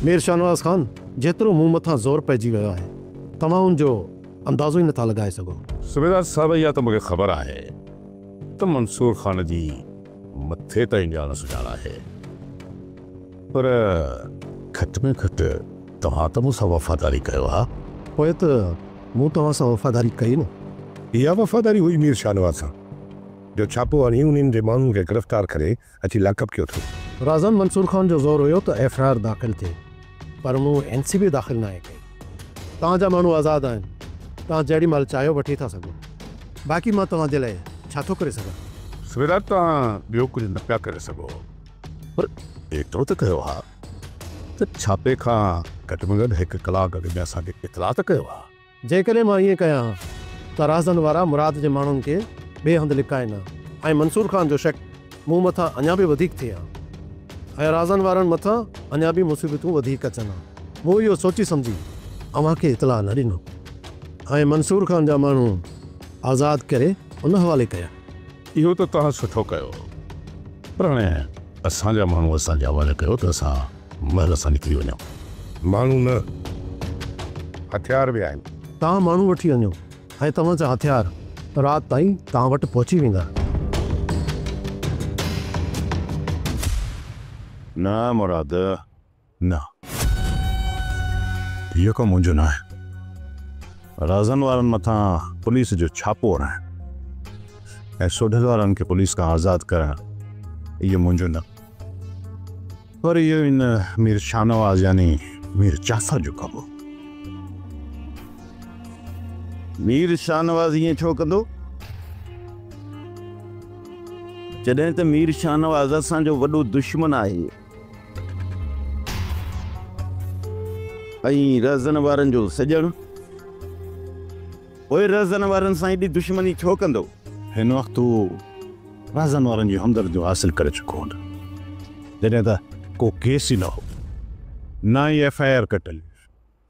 مير شاهنواز خان جيترو مون مٿان زور پئجي ويو آهي توهان ان جو اندازو ئي نٿا لڳائي سگهو. صوبيدار صاحب اها ته مونکي خبر آهي ته منصور خان جي مٿي تائين ڄاڻ سڃاڻ آهي پر گهٽ ۾ گهٽ توهان ته مون سان وفاداري ڪيو ها. پوء ته مون توهان سان وفاداري ڪئي نه. اها وفاداري هئي مير شاهنواز خان جو ڇاپو هڻي انهن جي ماڻهن کي گرفتار ڪري اچي لاڪ اپ ڪيو اٿس. رازان منصور خان جو زور هيو ته ايف آء آر داخل ٿئي پر مون اين سي بي داخل ناهي ڪئي. توهان جا ماڻهو آزاد آهن توهان جهڙي مهل چاهيو وٺي ٿا سگهو باقي مان توهان جي لاء ڇا ٿو ڪري سگهان. سويرا توهان ٻيو ڪجهه نه پيا ڪري سگهو پر ايترو ته ڪيو ها ته ڇاپي کان گهٽ ۾ گهٽ هڪ ڪلاڪ اڳ ۾ اسان کي اطلاع ته ڪيو ها. جيڪڏهن مان ائين ڪيان ها ته راهزن وارا مراد جي ماڻهن کي ٻئي هنڌ لڪائين ها ۽ منصور خان جو شڪ مون مٿان اڃا به وڌيڪ ٿئي ها ۽ راهزن وارن مٿان اڃا به مصيبتون وڌيڪ اچن ها. مون اهو سوچي سمجهي اوهان کي اطلاع نه ڏنو ۽ منصور خان جا ماڻهو آزاد ڪري ان حوالي ڪيا. اهو ته توهان سٺو ڪيو پر هاڻي اسان جا ماڻهو اسان جي حوالي ڪيو ته اسان محل سان نڪري وڃو. ماڻهو نه، هٿيار به آهن. توهان ماڻهو وٺي وڃو ۽ توهان جا هٿيار رات تائين توهان وٽ پهچي ويندا. نه مراد، نه. اهو ڪم منهنجو نه آهي. رازن وارن مٿان پوليس جو ڇاپو هڻائڻ ۽ سوڍل وارن کي پوليس کان آزاد ڪرڻ اهو منهنجو نه. پر اهو هن مير شاهنواز يعني مير جعفر جو ڪم هو. مير شاهنواز ائين ڇو ڪندو؟ جڏهن ته مير شاهنواز اسان جو وڏو دشمن آهي ۽ رهزن وارن جو سڄڻ. پوء رهزن وارن سان ايڏي دشمني ڇو ڪندو؟ هن وقت هو رهزن وارن جون همدرديون حاصل ڪري چڪو هو نه جڏهن ته ڪو ڪيس ئي نه هو، نه ئي ايف آء آر ڪٽل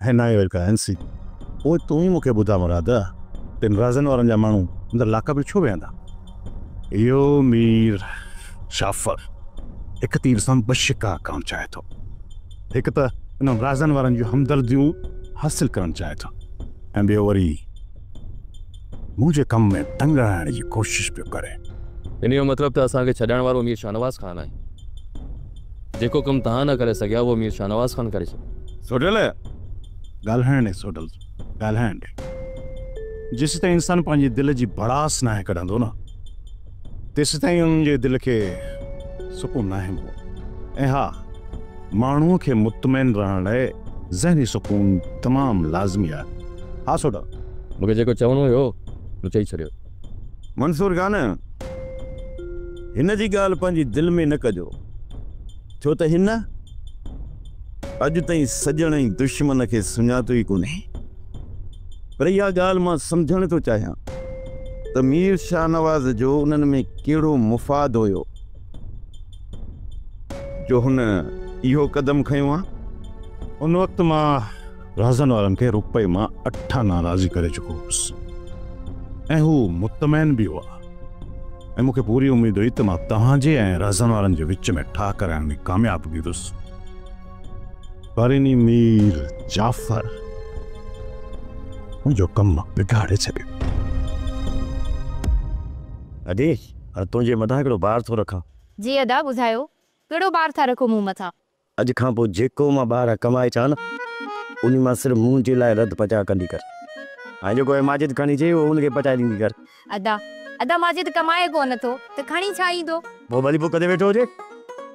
هئي ۽ نه ئي وري ڪا اين سي بي. پوء تون ئي مون کي ٻڌاء مراد، تن رهزن وارن جا ماڻهو اندر لاڪ اپ ۾ ڇو ويهندا؟ اهو مير شافر هڪ تير سان ٻه شڪار ڪرڻ چاهي ٿو. هڪ ته انهن رازن وارن جون همدرديون حاصل ڪرڻ چاهي ٿو ۽ ٻيو وري مون جي ڪم ۾ ٽنگ اڙائڻ جي ڪوشش پيو ڪري. ان جو مطلب ته اسان کي ڇڏائڻ وارو مير شاهنواز خان آهي. جيڪو ڪم توهان نه ڪري سگهيا اهو مير شاهنواز خان ڪري ڇڏيو. سوڍل! ڳالهائڻ ڏي سوڍل، ڳالهائڻ ڏي. جيسيتائين انسان پنهنجي دل جي ڀڙاس ناهي ڪڍندو نه. تيسيتائين انهن جي دل کي سڪون ناهي ملندو ۽ ها ماڻهوء کي مطمئن رهڻ لاء ذهني سڪون تمام لازمي آهي. ها سوڍا! مون کي جيڪو چوڻو هيو مون چئي ڇڏيو. منصور جان! هن جي ڳالهه پنهنجي دل ۾ نه ڪجو. ڇو ته هن اڄ تائين سڄڻ ۽ دشمن کي سڃاتو ئي ڪونهي. پر اها ڳالهه مان سمجهڻ ٿو چاهيان ته مير شاهنواز جو انهن ۾ ڪهڙو مفاد هيو جو هن اهو قدم کنيو ها. ان وقت مان رهزن وارن کي روپئي مان اٺ آنا راضي ڪري چڪو هوس ۽ هو مطمئن به هئا ۽ مون کي پوري اميد هئي ته مان توهان جي ۽ رهزن وارن جي وچ ۾ ٺاهه ڪرائڻ ۾ ڪامياب بيهندس. پريني مير جعفر منهنجو ڪم بگاڙي ڇڏيو. ادي، تنهنجي مٿان هڪڙو بار ٿو رکان. جي ادا، ٻڌايو، ڪهڙو بار ٿا رکو مون مٿان؟ اڄ کان پوء جيڪو مان ٻاهران ڪمائي اچان نه، انهي مان صرف منهنجي لاء رڌ پچاء ڪندي ڪر ۽ جيڪو هي ماجد کڻي اچي، اهو ان کي پچائي ڏيندي ڪر. ادا، ادا ماجد ڪمائي ڪو نه ٿو ته کڻي ڇا ايندو؟ پوء ڀلي بک تي ويٺو هجي،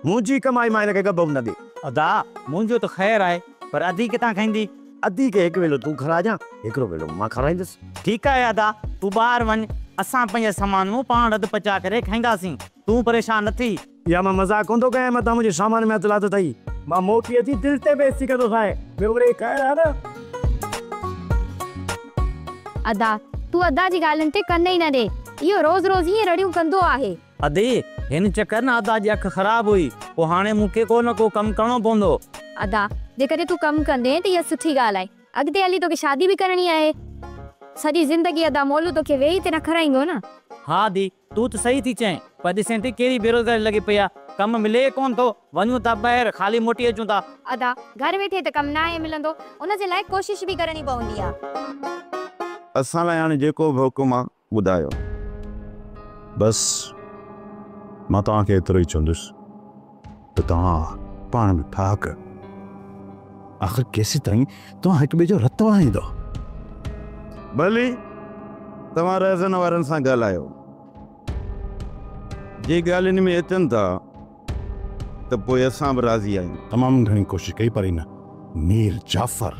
منهنجي ڪمائي مان هن کي ڳڀ به نه ڏي. ادا، منهنجو ته خير آهي، پر ادي ڪٿان کائيندي؟ ادي کي هڪ ويلو تون کاراجان، هڪڙو ويلو مان کارايندس. ٺيڪ آهي ادا، تون ٻاهر وڃ، اسان پنهنجي سامان مون پاڻ رڌ پچاء ڪري کائينداسين، تون پريشان نه ٿي. يا مان مذاق ڪون ٿو ڪيان متان منهنجي سامان ۾ هٿ لاٿو اٿئي. مان موٽي اچي دل تي بحث ٿي ڪندوسانء. ٻيو وري هي کائڻ ها نه. ادا، تون ادا جي ڳالهين تي ڪن ئي نه ڏي. اهو روز روز هيئن رڙيون ڪندو آهي. ادي، هن چڪر نه ادا جي اک خراب هئي. پوء هاڻي مون کي ڪو نه ڪو ڪم ڪرڻو پوندو. ادا، جيڪڏهن تون ڪم ڪندين ته اها سٺي ڳالهه آهي. اڳتي هلي توکي شادي به ڪرڻي آهي. سڄي زندگي ادا مولو توکي ويهي تي نه کارائيندو نه. ها ادي، تون ته صحيح ٿي چئين پر ڏسين ٿي ڪهڙي بيروزگاري لڳي پئي آهي ڪم ملي ئي ڪونه ٿو وڃون ٿا ٻاهر خالي موٽي اچون ٿا. ادا گهر ويٺي ته ڪم ناهي ملندو ان جي لاء ڪوشش به ڪرڻي پوندي آ. اسان لاء هاڻي جيڪو به حڪم آ ٻڌايو. بس مان توهان کي ايترو ئي چوندس. ته توهان پاڻ ۾ ٺاهه ڪيو. آخر ڪيستائين توهان هڪ ٻئي جو رت وهائيندؤ؟ ڀلي توهان رهزن وارن سان ڳالهايو. جي ڳالهين ۾ اچن ٿا ته پوء اسان به راضي آهيون. تمام گهڻي ڪوشش ڪئي پر هن مير جعفر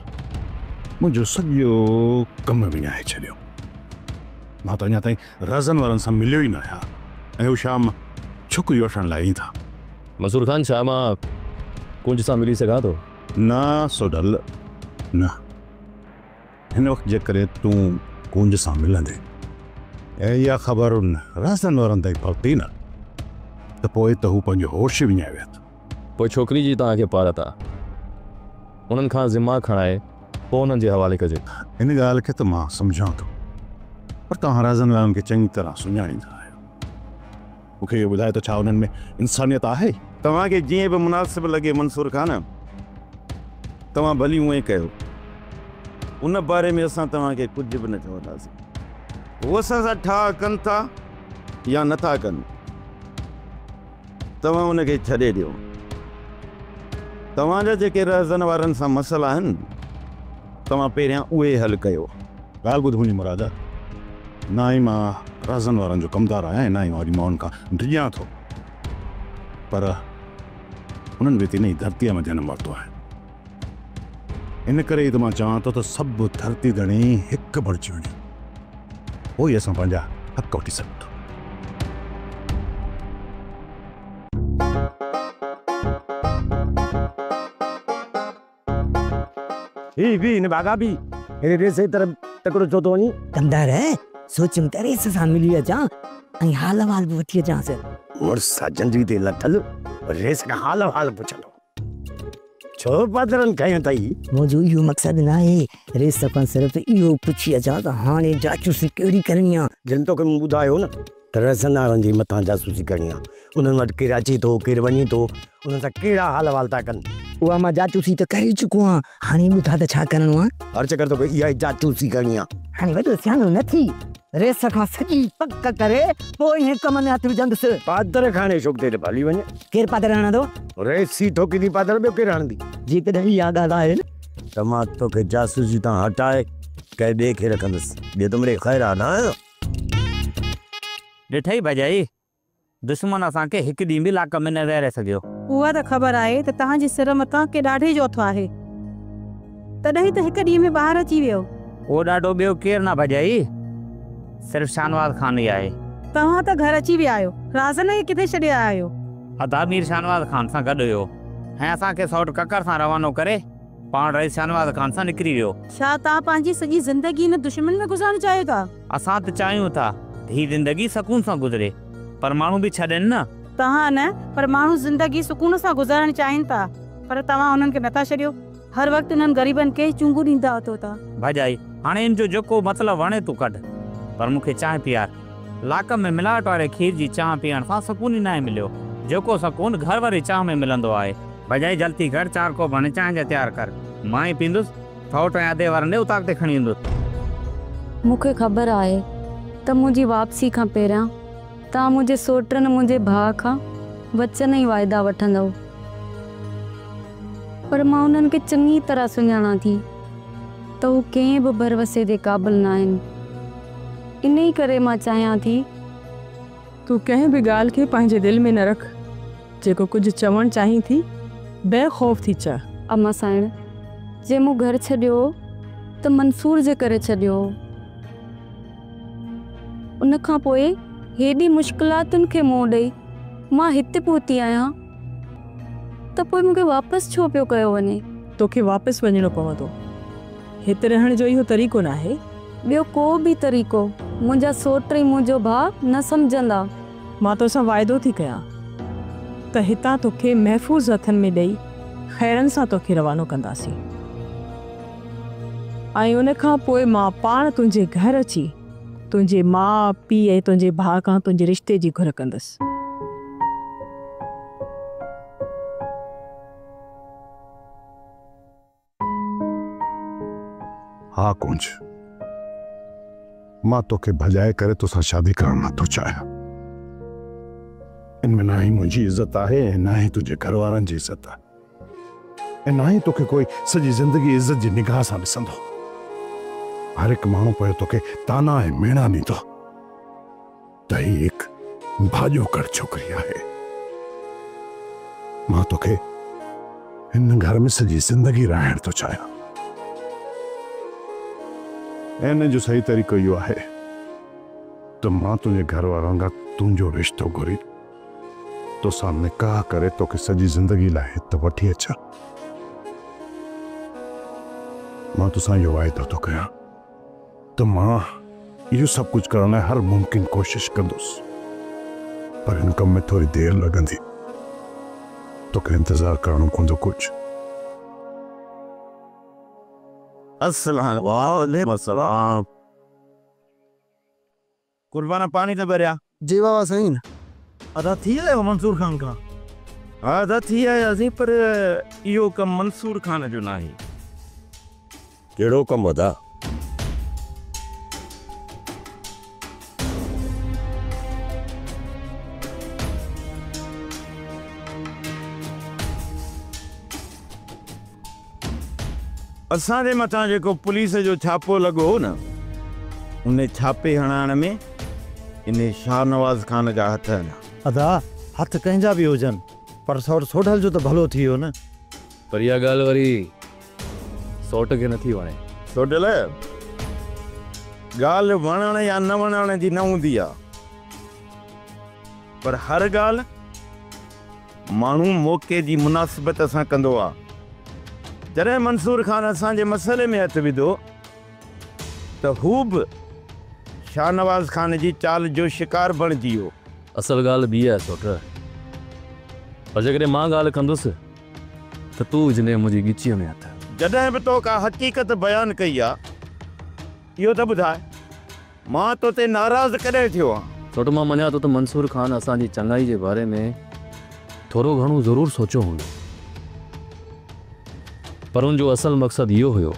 منهنجو سڄو ڪم وڃائي ڇڏيو. مان ته اڃا تائين رزن وارن سان مليو ئي ناهيان ۽ هو شام ڇڪري وٺڻ لاء ايندا. منصور خان، ڇا مان ڪنج سان ملي سگهان ٿو؟ نه سوڍل، نه. هن وقت جيڪڏهن تون ڪنج سان ملندين ۽ اها خبر ان رزن وارن تائين پهتي نه ته پوء ته هو پنهنجو هوش ئي وڃائي ويهندو. پوء ڇوڪري جي توهان کي پارت آ. انهن کان ذمه کڻائي پوء انهن جي حوالي ڪجي. هن ڳالهه کي ته مان سمجهان ٿو پر توهان رازن وارن کي چڱي طرح سڃاڻيندا آهيو. مون کي اهو ٻڌايو ته ڇا انهن ۾ انسانيت آهي؟ توهان کي جيئن به مناسب لڳي منصور خان توهان ڀلي اونئين ڪيو. ان باري ۾ اسان توهان کي ڪجهه به نه چونداسين. هو اسان سان ٺاهه ڪن ٿا يا نٿا ڪن. توهان ان کي ڇڏي ڏيو. توهان جا جيڪي رهزن وارن سان مسئلا آهن، توهان پهريان اهي حل ڪيو. ڳالهه ٻڌ منهنجي مراد، نه ئي مان رهزن وارن جو ڪمدار آهيان ۽ نه ئي مان وڏي ماڻهن کان ڊڄان ٿو، پر انهن به تي نه ئي ڌرتيء مان جنم ورتو آهي. ان ڪري ئي ته مان چوان ٿو ته سڀ ڌرتي ڌڻي هڪ بڻجي وڃن، پوء ئي اسان پنهنجا حق وٺي سگهون ٿا. هي به هن ڀاڳا به هيڏي ڏي سي طرف تڪڙو ڇو ٿو وڃين؟ ڪنڌار، سوچيم ته ريس سان ملي اچان ۽ حال احوال به وٺي اچانس. مڙس سان جنڊي تي لٿل ريس کان حال احوال پڇندو. ڇو پادرن کنيو اٿئي؟ منهنجو اهو مقصد ناهي، ريس سکان صرف اهو پڇي اچان ته هاڻي جاسوسي ڪهڙي ڪرڻي آ؟ جن توکي مون ٻڌايو نه ته ريسن وارن جي مٿان جاسوسي ڪرڻي آ، انهن وٽ ڪير اچي ٿو، ڪير وڃي ٿو، انهن سان ڪهڙا حال احوال ٿا ڪن. اها مان جاسوسي ته ڪري چڪو آهيان، هاڻي ٻڌاء ته ڇا ڪرڻو آ؟ هر چڪر توکي اها ئي جاسوسي ڪرڻي آ. هاڻي وڏو سياڻو نه ٿي. ريس کان سڄي پڪ ڪري پوء ئي هن ڪم ۾ هٿ وجهندس. پادر کاڻي شوق تي ته هلي وڃ. ڪير پادر هڻندو؟ ريس ئي ٿو ڪندي پادر ٻيو ڪير هڻندي؟ جيڪڏهن اها ڳالهه آهي نه. ته مان توکي جاسوسي تان هٽائي ڪنهن ٻئي کي رکندس. ٻيو ته مڙئي خير آهي نه. ڏٺئي ڀڄائي دشمن اسان کي هڪ ڏينهن به لاڪ ۾ نه ويهاري سگهيو. اها ته خبر آهي ته توهان جي سر مٿان ڪنهن ڏاڍي جو هٿ آهي. تڏهن ته هڪ ڏينهن ۾ ٻاهر اچي ويو. اهو ڏاڍو ٻيو ڪير نه ڀڄائي، صرف شاهنواز خان ئي آهي. توهان ته گهر اچي ويا آهيو. رازن کي ڪٿي ڇڏي آيا آهيو؟ ادا مير شاهنواز خان سان گڏ هيو ۽ اسان کي سئوٽ ڪڪر سان روانو ڪري پاڻ رئيس شاهنواز خان سان نڪري ويو. ڇا توهان پنهنجي سڄي زندگي هن دشمن ۾ گذارڻ چاهيو ٿا؟ اسان ته چاهيون ٿا ته هي زندگي سڪون سان گذري پر ماڻهو به ڇا ڏين نه. توهان نه پر ماڻهو زندگي سڪون سان گذارڻ چاهين ٿا پر توهان انهن کي نٿا ڇڏيو. هر وقت انهن غريبن کي چونگون ڏيندا اٿو ٿا. ڀاڄائي، هاڻي ان جو جيڪو مطلب وڻي تون ڪڍ پر مون کي چانهه پيار. لاڪ ۾ ملاوٽ واري کير جي چانهه پيئڻ سان سڪون ئي ناهي مليو، جيڪو سڪون گهر واري چانهه ۾ ملندو آهي. بجائي جلتي ڪر، چار ڪوپ هڻي چانهه جا تيار ڪر، مان ئي پيئندس، ٿئوٽ ۽ ادي ورندي اتاق تي کڻي ويندس. مون کي خبر آهي ته منهنجي واپسي کان پهريان توهان منهنجي سوٽ ۽ منهنجي ڀاء کان وچن ۽ واعدا وٺندؤ، پر مان انهن کي چڱي طرح سڃاڻان ٿي. ته هو ڪنهن به ڀروسي جي قابل ناهن. انهي ڪري مان چاهيان ٿي. تون ڪنهن به ڳالهه کي پنهنجي دل ۾ نه رک. جيڪو ڪجهه چوڻ چاهين ٿي، بي خوف ٿي چئه. اما سائڻ، جي مون گهر ڇڏيو هو ته منصور جي ڪري ڇڏيو هو. ان کان پوء هيڏي مشڪلاتن کي منهن ڏئي مان هتي پهتي آهيان. ته پوء مون کي واپس ڇو پيو ڪيو وڃي؟ توکي واپس وڃڻو پوندو. هت رهڻ جو اهو طريقو ناهي. ٻيو ڪو به طريقو منهنجا سوٽ ۽ منهنجو ڀاء نه سمجهندا. مان توسان واعدو ٿي ڪيان ته هتان توکي محفوظ هٿن ۾ ڏئي خيرن سان توکي روانو ڪنداسين ۽ ان کان پوء مان پاڻ تنهنجي گهر اچي تنهنجي ماء، پيء ۽ تنهنجي ڀاء کان تنهنجي رشتي جي گهر ڪندس. ها ڪونج، مان توکي ڀڄائي ڪري توسان شادي ڪرڻ نه ٿو چاهيان. ان ۾ نه ئي منهنجي عزت آهي ۽ نه ئي تنهنجي گهر وارن جي عزت. ۽ ناهي توکي ڪوئي سڄي زندگي عزت جي نگاهه سان ڏسندو. هر هڪ ماڻهو پوء توکي طعنا ۽ ميڻا ڏيندو ته هي هڪ ڀاڄوڪڙ ڇوڪري آهي. مان توکي هن گهر ۾ سڄي زندگي رهائڻ ٿو چاهيان. ۽ ان جو صحيح طريقو اهو آهي ته مان تنهنجي گهر وارن کان تنهنجو رشتو گهري، توسان نڪاح ڪري توکي سڄي زندگي لاء هت وٺي اچان. مان توسان اهو واعدو ٿو ڪريان ته مان اهو سڀ ڪجهه ڪرڻ لاء هر ممڪن ڪوشش ڪندس پر هن ڪم ۾ ٿوري دير لڳندي. توکي انتظار ڪرڻو پوندو ڪجهه. اسلم وعليڪم السلام. قربان پاڻي ته ٻريا. جي واهه واهه سائين. ادا ٿي آيو منصور خان کان. ها ادا ٿي آياسين پر اهو ڪم منصور خان جو ناهي. ڪهڙو ڪم ادا؟ اسان جي مٿان جيڪو پوليس جو ڇاپو لڳو هو نه، ان ڇاپي هڻائڻ ۾ انهي شاهنواز خان جا هٿ آهن. ادا، هٿ ڪنهن جا به هجن، پر سئوٽ سوڍل جو ته ڀلو ٿي ويو نه. پر اها ڳالهه وري سئوٽ کي نٿي وڻي. سوڍل، ڳالهه وڻڻ يا نه وڻڻ جي نه هوندي آهي، پر هر ڳالهه. ماڻهو موقعي جي مناسبت سان ڪندو آ. جڏهن منصور خان اسان جي مسئلي ۾ هٿ وڌو ته هو به شاهنواز خان جي چال جو شڪار بڻجي ويو. اصل ڳالهه ٻي آهي سوٽ. پر جيڪڏهن مان ڳالهه ڪندس ته تون وجهندين منهنجي ڳچيء ۾ هٿ. جڏهن به تو ڪا حقيقت بيان ڪئي آ اهو ته ٻڌاء. مان تو تي ناراض ڪڏهن ٿيو آهيان؟ ڇو ته مان مڃان ٿو ته منصور خان اسان جي چڱائي جي باري ۾ ٿورو گهڻو ضرور سوچيو هوندو پر ان جو اصل مقصد اهو هيو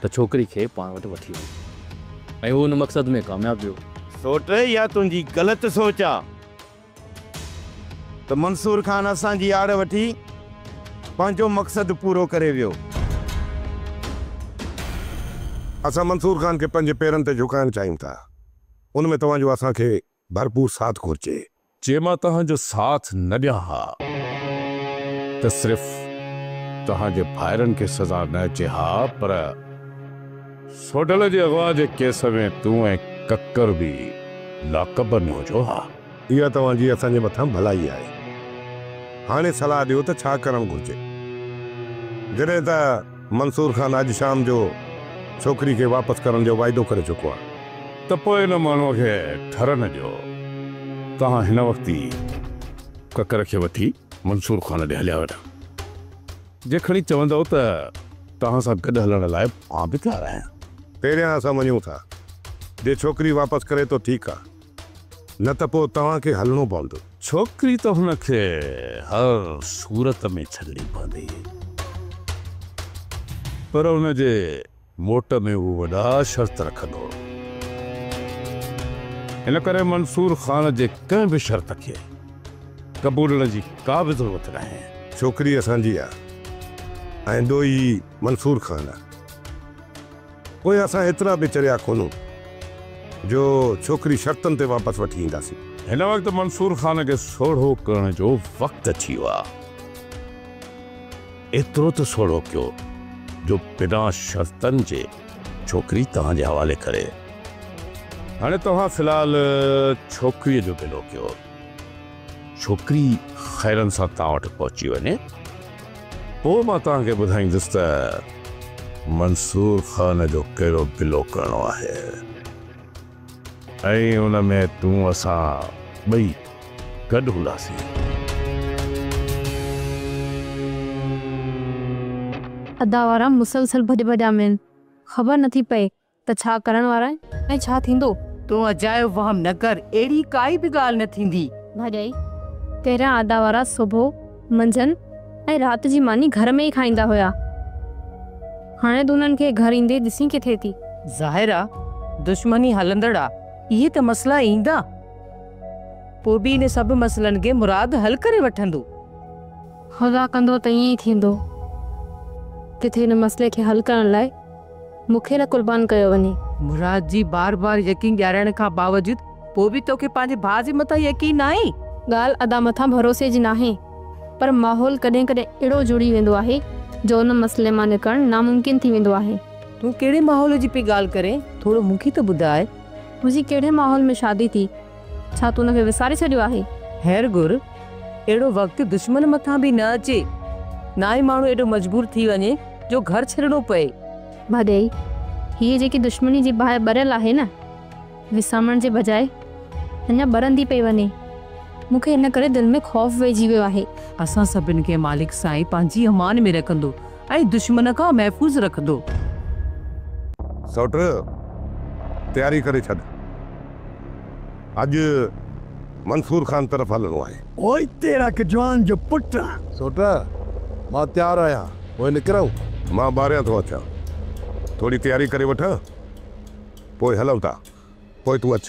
ته ڇوڪري کي پاڻ وٽ وٺي وڃي ۽ هو ان مقصد ۾ ڪامياب ويو. سوٽ يا تنهنجي غلط سوچ آ. ته منصور خان اسان جي آڙ وٺي پنهنجو مقصد پورو ڪري ويو. اسان منصور خان کي پنهنجي پيرن تي جهڪائڻ چاهيون ٿا، ان ۾ توهان جو اسان کي ڀرپور ساٿ گهرجي. جي مان توهان جو ساٿ نه ڏيان ها ته صرف توهان جي ڀائرن کي سزا نه اچي ها پر. سوڍل جي اغوا جي ڪيس ۾ تون ۽ ڪڪر به لاڪ اپ ۾ هجو ها. اها توهان جي اسان جي مٿان ڀلائي آهي. هاڻي صلاح ڏيو ته ڇا ڪرڻ گهرجي. جڏهن ته منصور خان اڄ شام جو ڇوڪري کي واپس ڪرڻ جو واعدو ڪري چڪو آهي. ته پوء ان ماڻهوء کي ٺر نه ڏيو. توهان هن وقت ئي ڪڪر کي وٺي منصور خان ڏي هليا وڃو. جي کڻي چوندؤ ته توهان سان گڏ هلڻ لاء مان به تيار آهيان. پهريان اسان وڃون ٿا. جي ڇوڪري واپس ڪري ته ٺيڪ آ. نه ته پوء توهان کي هلڻو پوندو. ڇوڪري ته هن کي هر صورت ۾ ڇڏڻي پوندي. پر ان جي موٽ ۾ هو وڏا شرط رکندو هو. ان ڪري منصور خان جي ڪنهن به شرط کي قبولڻ جي ڪا به ضرورت ناهي. ڇوڪري اسان جي آ ۽ ڏوهي منصور خان آ. پوء اسان ايترا به چريا ڪونهون جو ڇوڪري شرطن تي واپس وٺي اينداسين. هن وقت منصور خان کي سوڙهو ڪرڻ جو وقت اچي ويو آ. ايترو ته سوڙهو ڪيو جو بنا شرطن جي ڇوڪري توهان جي حوالي ڪري. هاڻي توهان في الحال ڇوڪريء جو گلو ڪيو. ڇوڪري خيرن سان توهان وٽ پهچي وڃي، پوء مان توهان کي ٻڌائيندس ته منصور خان جو ڪهڙو گلو ڪرڻو آهي. ۽ ان ۾ تون اسان ٻئي گڏ هونداسين. ادا وارا مسلسل ڀڄ ڀڄان ۾آهن خبر نٿي پئي ته ڇا ڪرڻ وارا آهن ۽ ڇا ٿيندو. تون اجايو وهم نه ڪر اهڙي ڪائي به ڳالهه نه ٿيندي. ڀڄ اي تيريان ادا وارا سوڀو. منجهند ۽ رات جي ماني گهر ۾ ئي کائيندا هيا. هاڻي تون انهن کي گهر ايندي ڏسين ڪٿي ٿي؟ ظاهر آ دشمني هلندڙ آ. اهي ته مسئلا ايندا پوء به ان سڀ مسئلن کي مراد حل ڪري وٺندو. خدا ڪندو ته ائين ئي ٿيندو. ڪٿي ان مسئلي کي حل ڪرڻ لاء مون کي نه قربان ڪيو وڃي. مراد جي بار بار يقين ڏيارائڻ کان باوجود پوء به توکي پنهنجي ڀاء جي مٿان يقين ناهي؟ ڳالهه ادا مٿان ڀروسي جي ناهي پر ماحول ڪڏهن ڪڏهن اهڙو جڙي ويندو آهي جو ان مسئلي مان نڪرڻ ناممڪن ٿي ويندو آهي. تون ڪهڙي ماحول جي پئي ڳالهه ڪرين ٿورو مون کي ته ٻڌاء. منهنجي ڪهڙي ماحول ۾ شادي ٿي؟ ڇا تون ان کي وساري ڇڏيو آهي؟ خير گهر، اهڙو وقت دشمن مٿان به نه اچي. نه ئي ماڻهو ايڏو مجبور ٿي وڃي جو گهر ڇڏڻو پئي. ڀاڄائي، هيء جيڪي دشمني جي باهه ٻريل آهي نه، وسامڻ جي بجاء اڃا ٻرندي پئي وڃي. مون کي ان ڪري دل ۾ خوف ويهجي ويو آهي. اسان سڀن کي مالڪ سائين پنهنجي امان ۾ رکندو. ۽ دشمن کان محفوظ رکندو. سئوٽ تياري ڪري ڇڏ. اڄ منصور خان طرف هلڻو آهي. پوء تيرا ڪجوان جو پٽ آهن. سئوٽ مان تيار آهيان. پوء نڪرون؟ مان ٻاهريان ٿو اچان. ٿوري تياري ڪري وٺان. پوء هلون ٿا. پوء تون اچ.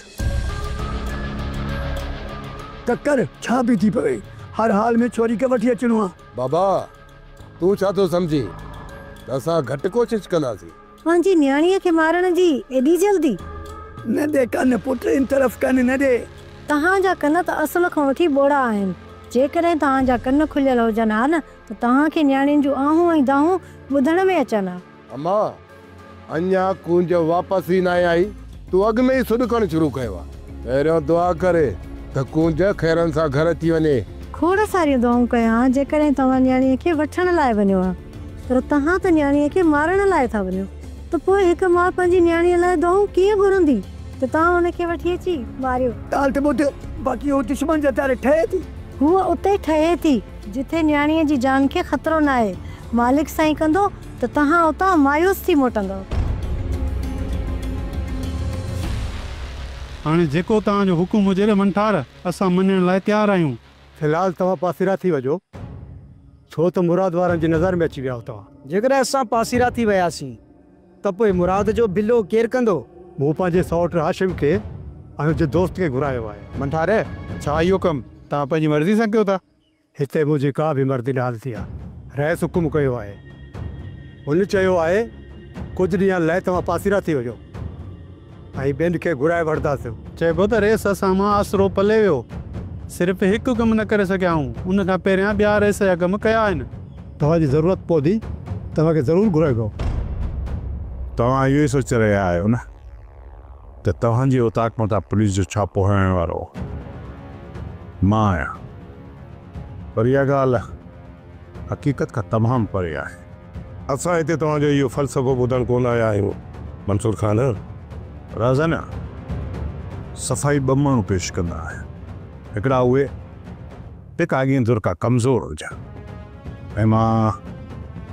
ڪڪر، ڇا به ٿي پوي، هر حال ۾ ڇوري کي وٺي اچڻو آ. بابا، تون ڇا ٿو سمجهين ته اسان گهٽ ڪوشش ڪنداسين. پنهنجي نياڻيء کي مارڻ جي ايڏي جلدي؟ نه ڏي ڪن پٽ، ان طرف ڪن نه ڏي. توهان جا ڪن ته اصل کان وٺي ٻوڙا آهن. جيڪڏهن توهان جا ڪن کليل هجن ها نه ته توهان کي نياڻين جون آهون ۽ دانهون ٻڌڻ ۾ اچن ها. اما! اڃا ڪونج واپس ئي ناهي آئي، تون اڳ ۾ ئي سڏ ڪرڻ شروع ڪيو آ. پهريون دعا ڪر ته ڪونج خيرن سان گهر اچي وڃي. کوڙ ساريون دعائون ڪيا ها، جيڪڏهن توهان نياڻيء کي وٺڻ لاء وڃو ها، پر توهان ته نياڻيء کي مارڻ لاء ٿا وڃو، ته پوء هڪ ماء پنهنجي نياڻيء لاء دعائون ڪيئن گهرندي ته توهان هن کي وٺي اچي ماريو؟ ڳالهه ته ٻڌ، باقي هوء دشمن جي هٿياري ٺهي ٿي. هوء اتي ٺهي ٿي، جتي نياڻيء جي جان کي خطرو ناهي. مالڪ سائين ڪندو. ته توهان اتان مايوس ٿي موٽندؤ. هاڻي جيڪو توهان جو حڪم هجي ري منٺار، اسان مڃڻ لاء تيار آهيون. في الحال توهان پاسيرا ٿي وجهو، ڇو ته مراد وارن جي نظر ۾ اچي ويا آهيو توهان. جيڪڏهن اسان پاسيرا ٿي وياسين ته پوء مراد جو بلو ڪير ڪندو؟ مون پنهنجي سئوٽ هاشم کي ۽ ان جي دوست کي گهرايو آهي. منٺار، ڇا اهو ڪم توهان پنهنجي مرضي سان ڪيو ٿا؟ هتي منهنجي ڪا به مرضي ناهل ٿي آهي. رئيس حڪم ڪيو آهي. هن چيو آهي، ڪجهه ڏينهن لئه توهان پاسيرا ٿي وڃو ۽ ٻين کي گهرائي وٺنداسون. چئبو ته رئيس اسان مان آسرو پلي ويو. صرف هڪ ڪم نه ڪري سگهيائون. ان کان پهريان ٻيا رئيس جا ڪم ڪيا آهن. توهان جي ضرورت پوندي توهان کي ضرور گهرائبو. توهان اهو ئي سوچي رهيا آهيو نه؟ ته توهان جي اوطاق مٿان پوليس جو ڇاپو هڻڻ وارو مان آهيان پر اها ڳالهه حقيقت کان تمام پري آهي. اسان هتي توهان جو اهو فلسفو ٻڌڻ ڪونه آيا آهيون منصور خان. رهزن صفائي ٻه ماڻهو پيش ڪندا آهن. هڪڙا اهي. تھ اڳين ڌر ڪا ڪمزور ھجان ۽ مان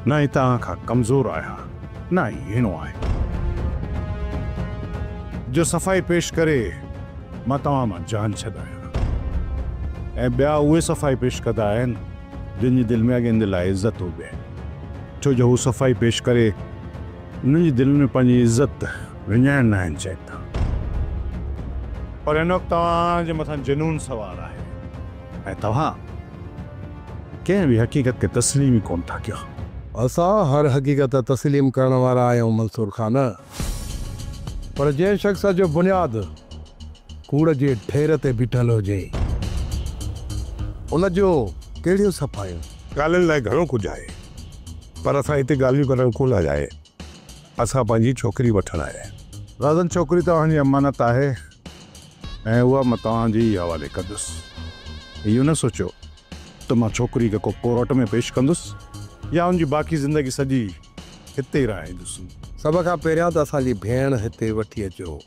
نھ ئي توھان کان ڪمزور آھيان نھ ئي ھيڻو آھيان جو صفائي پيش ڪري مان توھان مان جان ڇڏايان ۽ ٻيا اھي صفائي پيش ڪندا آھن جن جي دل ۾ اڳين دل آھي عزت ھجي ڇو جو ھو صفائي پيش ڪري انهن جي دلين ۾ پنهنجي عزت وڃائڻ ناهن چاهيندا. پر هن وقت توهان جي مٿان جنون سوار آهي ۽ توهان ڪنهن به حقيقت کي تسليم ئي ڪونه ٿا ڪيو. اسان هر حقيقت تسليم ڪرڻ وارا آهيون منصور خان. پر جنهن شخص جو بنياد ڪوڙ جي ڍير تي بيٺل هجي ان جون ڪهڙيون صفايون؟ ڳالهين لاء گهڻو ڪجهه آهي پر اسان هتي ڳالهيون ڪرڻ ڪونه آيا آهي اسان پنهنجي ڇوڪري وٺڻ آيا آهي. رازن ڇوڪري توهان جي امانت آهي ۽ اها مان توهان جي ئي حوالي ڪندس اهو نه سوچيو ته مان ڇوڪري کي ڪو ڪورٽ ۾ پيش ڪندس يا ان جي باقي زندگي سڄي هتي ئي رهائيندس. سڀ کان پهريان ته اسان جي ڀيڻ هتي وٺي اچو.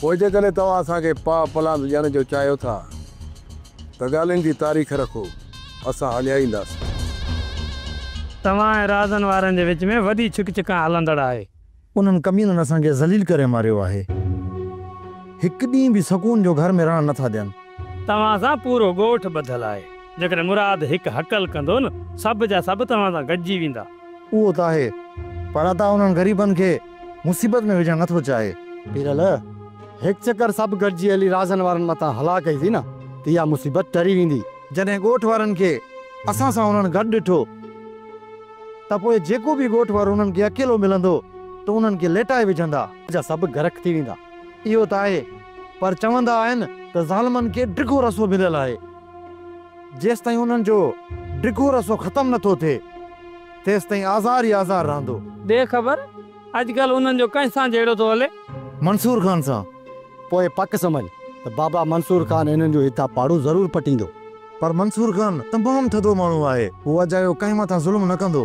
پوء جيڪڏهن توهان اسان کي پاء پلاند ڏيڻ جو چاهيو ٿا ته ڳالهين جي تاريخ رکو، اسان هليائينداسين. توهان ۽ رازن وارن جي وچ ۾ وڏي ڇڪ ڇڪان هلندڙ آهي. انهن ڪمينن اسان کي ذليل ڪري ماريو آهي. هڪ ڏينهن به سڪون جو گهر ۾ رهڻ نه ٿا ڏين. توهان سان پورو ڳوٺ ٻڌل آهي. جيڪڏهن مراد هڪ هڪل ڪندو نه سڀ جا سڀ توهان سان گڏجي ويندا. اهو ته آهي پر ادا انهن غريبن کي. مصيبت ۾ وجهڻ نٿو چاهي. پيرل، هڪ چڪر سڀ گڏجي هلي رازن وارن مٿان هلا ڪئيسين نه ته اها مصيبت ٽري ويندي. جڏهن ڳوٺ وارن کي اسان سان انهن گڏ ڏٺو ته پوء جيڪو به ڳوٺ وارو انهن کي اڪيلو ملندو ته انهن کي ليٽائي وجهندا. جا سڀ غرق ٿي ويندا. اهو ته آهي پر چوندا آهن ته ظالمن کي ڊگهو رسو مليل آهي. جيستائين انهن جو ڊگهو رسو ختم نٿو ٿئي. تيستائين آزار ئي آزار رهندو. ڏي خبر، اڄڪلهه انهن جو ڪنهن سان جهيڙو ٿو هلي؟ منصور خان سان. پوء پڪ سمجهه ته بابا منصور خان انهن جو هتان پاڙو ضرور پٽيندو. پر منصور خان تمام ٿڌو ماڻهو آهي. هو اجايو ڪنهن مٿان ظلم نه ڪندو.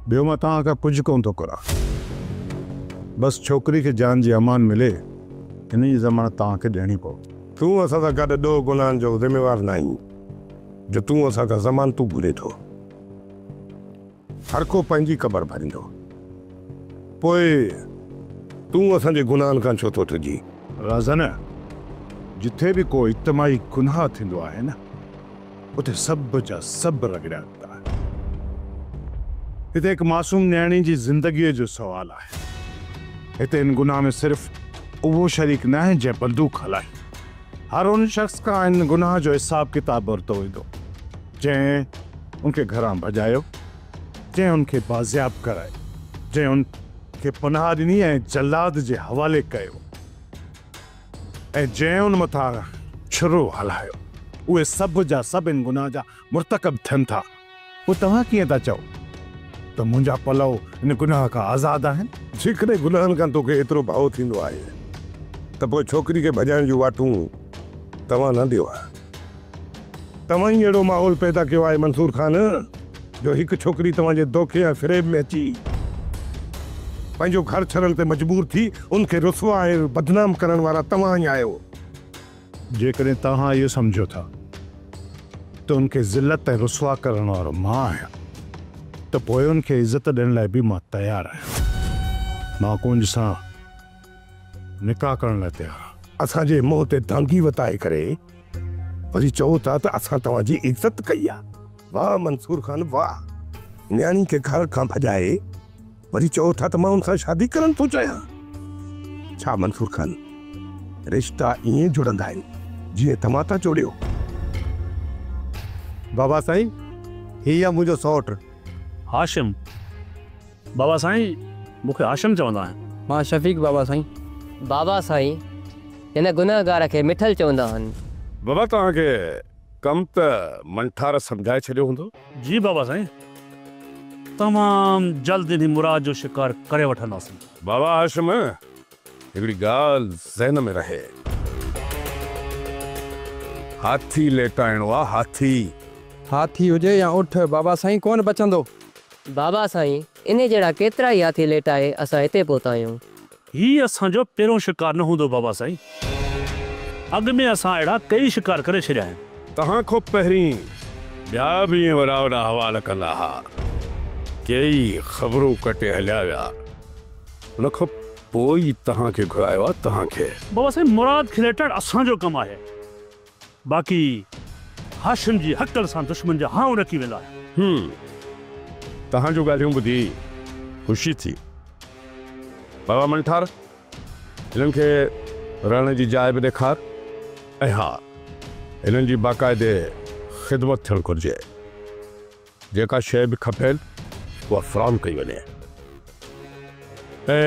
ٻيو مان توهان کان ڪجهه ڪونه ٿو گهران. بس ڇوڪري کي جان جي امان ملي، ان جي ضمانت توهان کي ڏيڻي پوندي. تون اسان سان گڏ ڏوهه گناهن جو ذميوار ناهين. جو تون اسان کان ضمانتون گهرين ٿو. هر ڪو پنهنجي قبر ڀريندو. پوء تون اسان جي گناهن کان ڇو ٿو ڊڄين؟ رازن، جتي به ڪو اجتماعي گناهه ٿيندو آهي نه، اتي سڀ جا سڀ رڳڙيا ويندا آهن. هتي هڪ معصوم نياڻي جي زندگيء جو سوال آهي. هتي ان گناهه ۾ صرف اهو شريڪ ناهي جنهن بندوق هلائي. هر ان شخص کان ان گناهه جو حساب ڪتاب ورتو ويندو جنهن ان کي گهران ڀڄايو، جنهن ان کي بازياب ڪرايو، جنهن ان کي پناهه ڏني ۽ جلاد جي حوالي ڪيو ۽ جنهن ان مٿان ڇرو هلايو، اهي سڀ جا سڀ ان گناهه جا مرتڪب ٿين ٿا. پوء توهان ڪيئن ٿا چئو ته منهنجا پلئو ان گناهه کان آزاد آهن؟ جيڪڏهن گناهن کان توکي ايترو ڀئو ٿيندو آهي ته پوء ڇوڪري کي ڀڄائڻ جون واٽون توهان نه ڏيو ها. توهان ئي اهڙو ماحول پيدا ڪيو آهي منصور خان جو هڪ ڇوڪري توهان جي دوکي ۽ فريب ۾ اچي پنهنجو گهر ڇڏڻ تي مجبور ٿي ان کي رسوا ۽ بدنام ڪرڻ وارا توهان ئي آهيو. جيڪڏهن توهان اهو سمجهو ٿا ته ان کي ذلت ۽ رسوا ڪرڻ وارو مان آهيان ته پوء ان کي عزت ڏيڻ لاء به مان تيار آهيان. مان ڪونج سان نڪاح ڪرڻ لاء تيار آهيان. اسان جي منهن تي دانگي وتائي ڪري وري چئو ٿا ته اسان توهان جي عزت ڪئي آهي. واهه منصور خان واهه! نياڻي کي گهر کان ڀڄائي وري چئو ٿا ته مان هن سان شادي ڪرڻ ٿو چاهيان. ڇا منصور خان، رشتا ائين جڙندا آهن جيئن توهان ٿا جوڙيو؟ بابا سائين، هي آهي منهنجو سئوٽ. هاشم، بابا سائين، مون کي هاشم چوندا آهن. مان شفيق بابا سائين. بابا سائين، هن گنهگار کي مٺل چوندا آهن. بابا توهان کي ڪم ته منٺار سمجهائي ڇڏيو هوندو. جي بابا سائين تمام جلد انهي مراد جو شڪار ڪري وٺنداسين. بابا هاشم هڪڙي ڳالهه ذهن ۾ رهي. هاٿي ليٽائڻو آ هاٿي. هاٿي هجي يا اٺ بابا سائين ڪونه بچندو. بابا سائين انهي جهڙا ڪيترائي هاٿي ليٽائي اسان هتي پهتا آهيون. هي اسان جو پهريون شڪار نه هوندو بابا سائين. اڳ ۾ اسان اهڙا ڪئي شڪار ڪري ڇڏيا آهن. توهان کان پهرين ٻيا به ائين وڏا وڏا حوال ڪندا ها. ڪيئي خبرون ڪٽي هليا ويا. ان کان پوء ئي توهان کي گهرايو آهي. توهان کي. بابا سائين مراد کليٽڻ اسان جو ڪم آهي. باقي هاشم جي هڪل سان دشمن جا هانء ڏڪي ويندا آهن. هوم، توهان جون ڳالهيون ٻڌي خوشي ٿي. بابا منٺار، هنن کي رهڻ جي جاء به ڏيکار ۽ ها، هنن جي باقاعدي خدمت ٿيڻ گهرجي. جيڪا شيء به کپين اها فراهم ڪئي وڃي ۽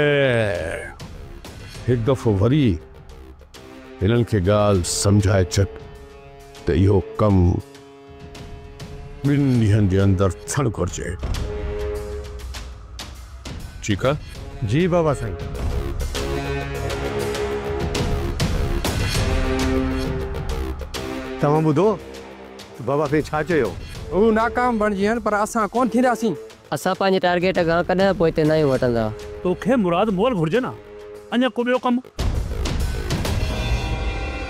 هڪ دفعو وري هنن کي ڳالهه سمجهائي ڇڏ ته اهو ڪم ٻن ڏينهن جي اندر ٿيڻ گهرجي. ٺيڪ آهي؟ جي بابا سائين. توهان ٻڌو؟ بابا سائين ڇا چيو؟ هو ناڪام بڻجين پر اسان ڪونه ٿينداسين. اسان پنهنجي ٽارگيٽ کان ڪڏهن پوئتي ناهيون هٽندا. توکي مراد مول گهرجي نه اڃا ڪو ٻيو ڪم.